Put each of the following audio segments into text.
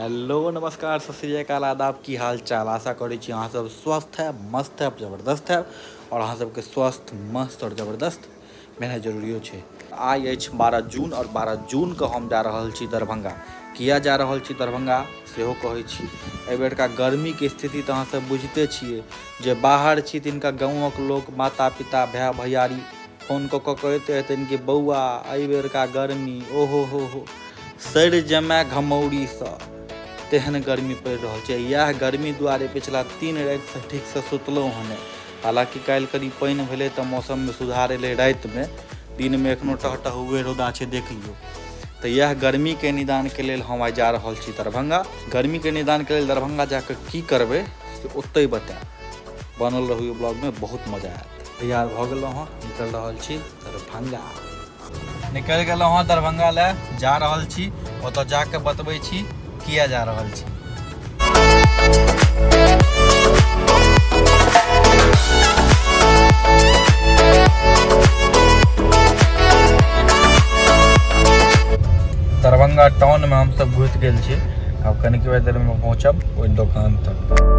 Hello नमस्कार सत श्रीकाल आदाब की हाल चाल आशा करै छी अहाँ सब स्वस्थ है मस्त है जबरदस्त है और अहाँ सबके स्वस्थ मस्त और जबरदस्त भेनाइ जरूरियो छै। आइ अछि बारह जून आओर बारह जून कऽ हम जा रहल छी दरभंगा। किया जा रहल छी दरभंगा सेहो कहैत छी। एहि बेरका गर्मी के स्थिति तऽ अहाँ सब बुझिते छियै। जे बाहर छी तिनका गाँवक लोक, माता, पिता, भाय, भैयारी फोन कऽ कऽ कहैत रहथिन कि बौआ एहि बेरका गर्मी ओहो हो हो सड़ि जमाय घमौरी सँ। तेहन गर्मी पड़ि रहल छै। इएह गर्मी दुआरे पिछला तीन राति सँ ठीक सँ सुतलहुँ हँ नहि। हालांकि काल्हि कनी पानि भेलै तऽ मौसममे सुधार एलै रातिमे दिनमे एखनो टहटहुए रौदा छै देख लियौ तऽ इएह गर्मीके निदानके लेल हम आइ जा रहल छी दरभंगा गर्मीके निदानके लेल दरभंगा जाकऽ की करबै से ओतहि बतायब बनल रहू ब्लॉगमे बहुत मजा आयत तैयार भऽ गेलहुँ हँ निकलि रहल छी दरभंगा निकलि गेलहुँ हँ दरभंगा लए जा रहल छी ओतऽ जाके बतबै छी किया जा रहल छी दरभंगा टाउनमे हमसभ घुसि गेल छी आब कनिक देरमे पहुँचब ओहि दोकान तक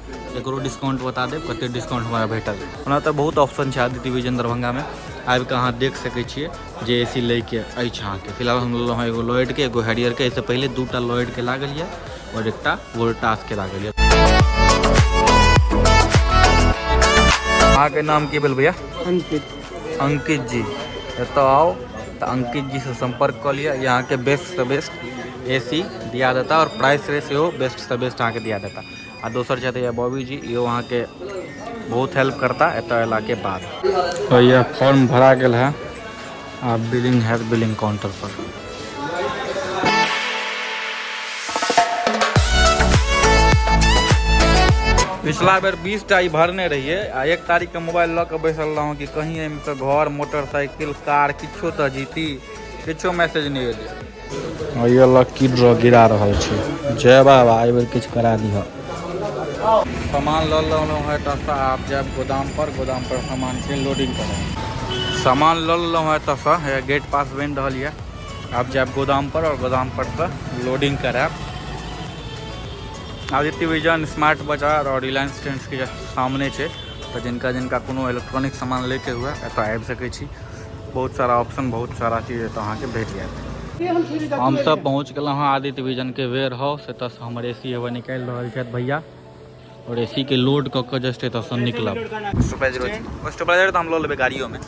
एकरो डिस्काउंट बता देब कते डिस्काउंट हमरा भेटल ओना तऽ बहुत ऑप्शन छै आदित्य विजन दरभंगामे आबि कऽ अहाँ देख सकै छियै जे ए सी लैके अछि अहाँके फिलहाल हम लेलहुँ हँ एगो लॉयडके एगो हैरियरके एहिसँ पहिले दू टा लॉयडके लागल यए आओर एकटा वोल्टासके लागल यए अहाँके नाम की भेल भैया अंकित अंकित जी एतऽ आउ तऽ अंकित जी से संपर्क कऽ लिअ यहाँ के बेस्ट से बेस्ट ए सी दिया देता और प्राइस रेट सेहो बेस्ट से बेस्ट अहाँके दिया देता आ दोसर छथि हैया बॉबी जी इहो अहाँके बहुत हेल्प करता एतऽ अयलाके बाद तो यह फॉर्म भरा गेल है आ बिलिंग हैत बिलिंग काउंटर पर पिछला बेर बीस टा ई भरने रहिए आ एक तारीख के मोबाइल लऽ कऽ बैसल रहौं कि कहीं एहिमे तऽ घर मोटरसाइकिल कार किछो तऽ जीती किछो मैसेज नहि एलै ये लक्की ड्रॉ गिरा रहल छै जय बाबा एहि बेर किछु करा दिह सामान लऽ लेलहुँ हँ एतऽसँ आब जायब गोदामपर गोदामपर सामानके लोडिंग करब सामान लऽ लेलहुँ हँ एतऽसँ हे गेट पास बनि रहल यऽ आब जायब गोदामपर आओर गोदामपरसँ लोडिंग करायब आदित्य विजन स्मार्ट बाजार आओर रिलायंस ट्रेंड्सके सामने छै तऽ जिनका जिनका कोनो इलेक्ट्रॉनिक सामान लैके हुए एतऽ आबि सकै छी बहुत सारा ऑप्शन बहुत सारा चीज एतऽ अहाँके भेट जायत हमसब पहुँच गेलहुँ हँ आदित्य विजन के वेयर हाउस एतऽ से हमर ए सी हवा निकालि रहल छथि भैया और ए सी के लोड कऽ के जस्ट एतऽ से निकलब सुपरवाइजर तऽ हम लऽ लेबै गाड़ियोमे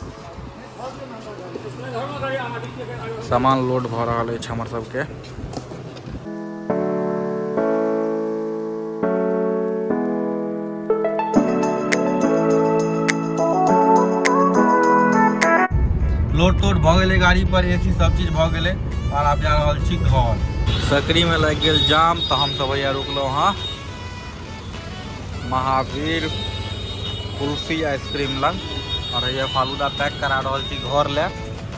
सामान लोड भऽ रहल अछि हमर सबके लोड तोड भऽ गेलै गाड़ी पर ए सी सब चीज भऽ गेलै और आब जा रहल छी घर सकरी में लागि गेल जाम तऽ हम सब भैया रुकलहुँ हँ महावीर कुल्फी आइसक्रीम लग और भैया फालूदा पैक करा रहल छी घर लए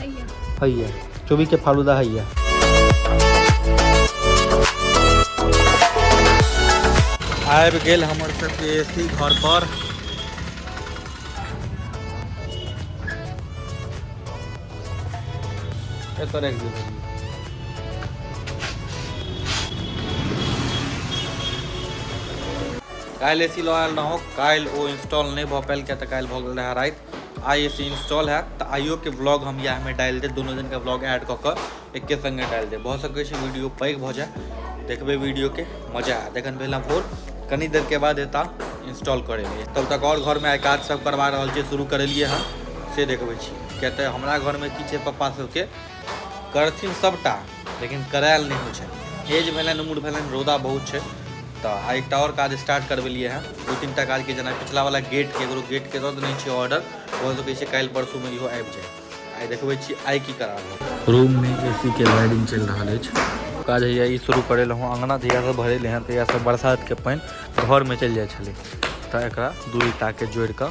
हैया हैया चौबी के फालूदा हैया आबि गेल हमर सबके एसी घर पर एतऽ राखि दियौ काल्हि एसी लऽ आयल रहौं काल्हि ओ इंस्टॉल नहि भऽ पायल किया तऽ काल्हि भऽ गेल रहए राति आइ एस इंस्टॉल हैत तऽ आइयोके ब्लॉग हम इएहमे डालि देब दुनू दिनके ब्लॉग ऐड कऽ कऽ एक्के सङ्गे डालि देब भऽ सकै छै वीडियो पैघ भऽ जाय देखबै वीडियोके मजा आयत एखन भेल भोर कनी देरके बाद एता इंस्टॉल करेलियै तब तक आओर घरमे आइ काज सब करवा रहल छियै शुरू करेलियै हँ से देखबै छी किया तऽ हमरा घरमे की छै पप्पा सबके करथिन सबटा लेकिन करायल नहि होइ छै एज भेलनि उम्र भेलनि रौदा बहुत छै तऽ आ एकटा आओर काज स्टार्ट करबेलियै हँ दू तीन टा काजके जेना पिछलावला गेटके एगो गेटके दऽ देने छियै ऑर्डर भऽ सकै छै काल्हि परसूमे इहो आबि जाय आइ देखबै छी आइ की करा रहल रूममे ए सी के वायरिंग चलि रहल अछि काज हैया ई शुरू करेलहुँ हँ अँगना जहियासँ भरेले हँ तहियासँ बरसातके पानि घरमे चलि जाइ छलै तऽ एकरा दू ईटाके जोड़ि कऽ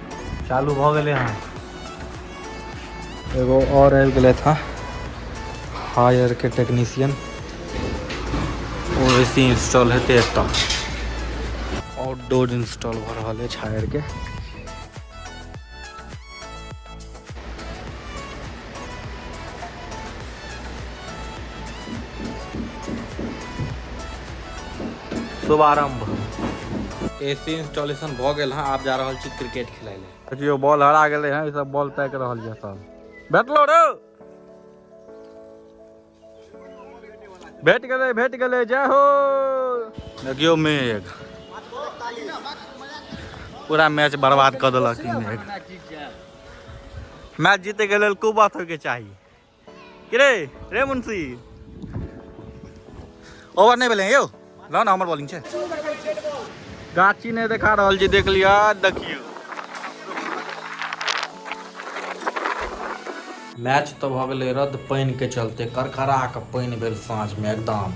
चालू भऽ गेलै हँ एगो आओर आबि गेलै हँ हायरके टेक्नीशियन ओ ए सी इंस्टॉल हेतै एतऽ आउटडोर इंस्टॉल भऽ रहल अछि हायरके शुभारंभ एसी इंस्टॉलेशन भ गेल हां आप जा रहल छी क्रिकेट खेलाय ले देखियो बॉल हरा गेले हैं ई सब बॉल पैक रहल ये सब बैठलो रे भेट गेलै भेट गेलै जय हो देखियो मेघ पूरा मैच बर्बाद कर दिल मेघ मैच जीते के लिए खूब बात होके चाहिए रे रे मुंशी ओवर नहीं भेल यौ ल ना हमर बॉलिंग छे गाची ने देखा रहल जे देख लिया देखियो मैच तो भ गेले रद्द पानी के चलते करकरा के पानी भेल साँझ में एकदम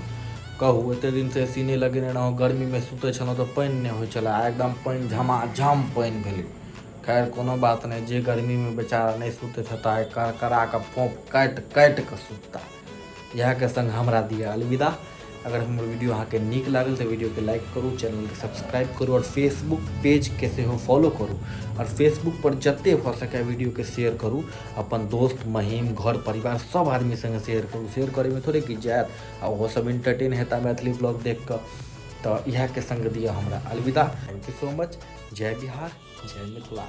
कहू एते दिन से एसी नहीं लगेने रहो गर्मी में सुते छलो तो पानी नहीं हो चला एकदम पानी झमाझम पानी भेले खैर कोनो बात नहीं जे गर्मी में बेचारा नहीं सुते छता करकरा के फोप काट काट के सुतता इएह के संग हमरा दिया अलविदा अगर हमर वीडियो अहाँ के नीक लागल तऽ वीडियो के लाइक करू चैनल के सब्सक्राइब करू और फेसबुक पेज के सेहो फॉलो करू और फेसबुक पर जते भऽ सके वीडियो के शेयर करू अपन दोस्त महीम घर परिवार सब आदमी संगे शेयर करू शेयर करे में थोड़े किछु जायत आ ओहो सब इंटरटेन हेता मैथिली ब्लॉग देख कऽ तऽ इएह के संग दिया हमरा अलविदा थैंक यू सो मच जय बिहार जय मिथिला